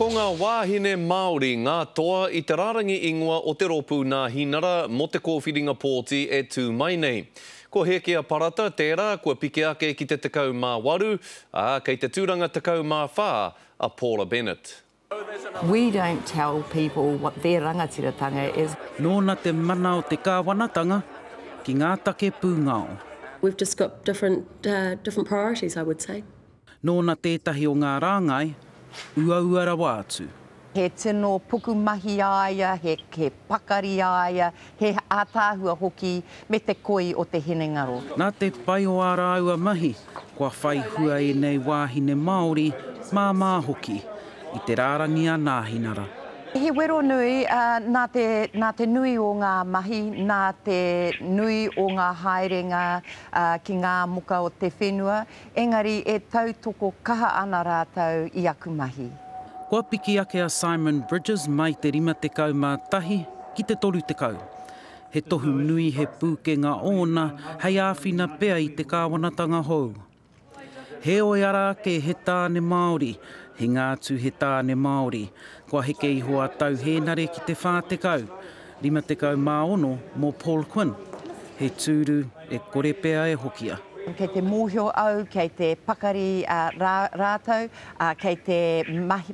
Ko ngā wāhine Māori ngā toa i te rārangi ingoa o te rōpū Nāhinara mō te kōwhiringa pōti e tū mai nei. Ko Hēkea Parata tērā kua piki ake ki te 18, ā, kei te tūranga 14 a Paula Bennett. We don't tell people what their rangatiratanga is. Nōna te mana o te Kāwanatanga ki ngā take pūngao. We've just got different priorities, I would say. Nōna tētahi o ngā rāngai uaua rawa atu. He tino pukumahi a ia, he pakari a ia, he ātaahua hoki me te koi o te hinengaro. Nā te pai o ā rāua mahi, kua whai hua ēnei wāhine Māori, māmā hoki, i te rārangi a Nāhinara. He wero nui, ā, nā te nui o ngā mahi, nā te nui o ngā haerenga ki ngā moka o te whenua, Engari e tautoko kaha ana rātou i aku mahi. Kua piki ake a Simon Bridges mai te 51 ki te 30. He tohu nui, he pūkenga ōna hei āwhina pea i te kāwanatanga hou. Heoi ara ake he tāne Māori, hinga atu he tāne Māori. Kua heke iho a Tau Hēnare ki te 40. 56 mō Paul Quinn, he tūru e kore pea e hokia. Kei te mōhio au, kei te pakari rātou, ā, kei te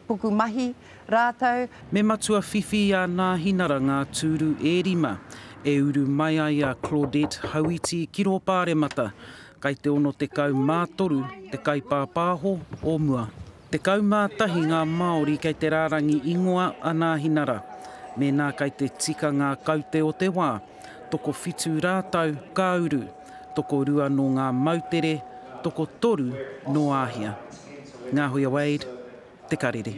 pukumahi rātou. Me matua whiwhi i a Nāhinara ngā tūru e rima e uru mai ai a Claudette Hauiti ki rō Pāremata, kai te 63 te kaipāpāho o mua. Tekau mā tahi ngā Māori kei te rārangi ingoa anāhinara. Mēnā kei te tika ngā kaute o te wā, tokowhitu rātou ka uru, tokorua nō ngā moutere, tokotoru nō Āhia. Ngāhuia Wade, Te Karere.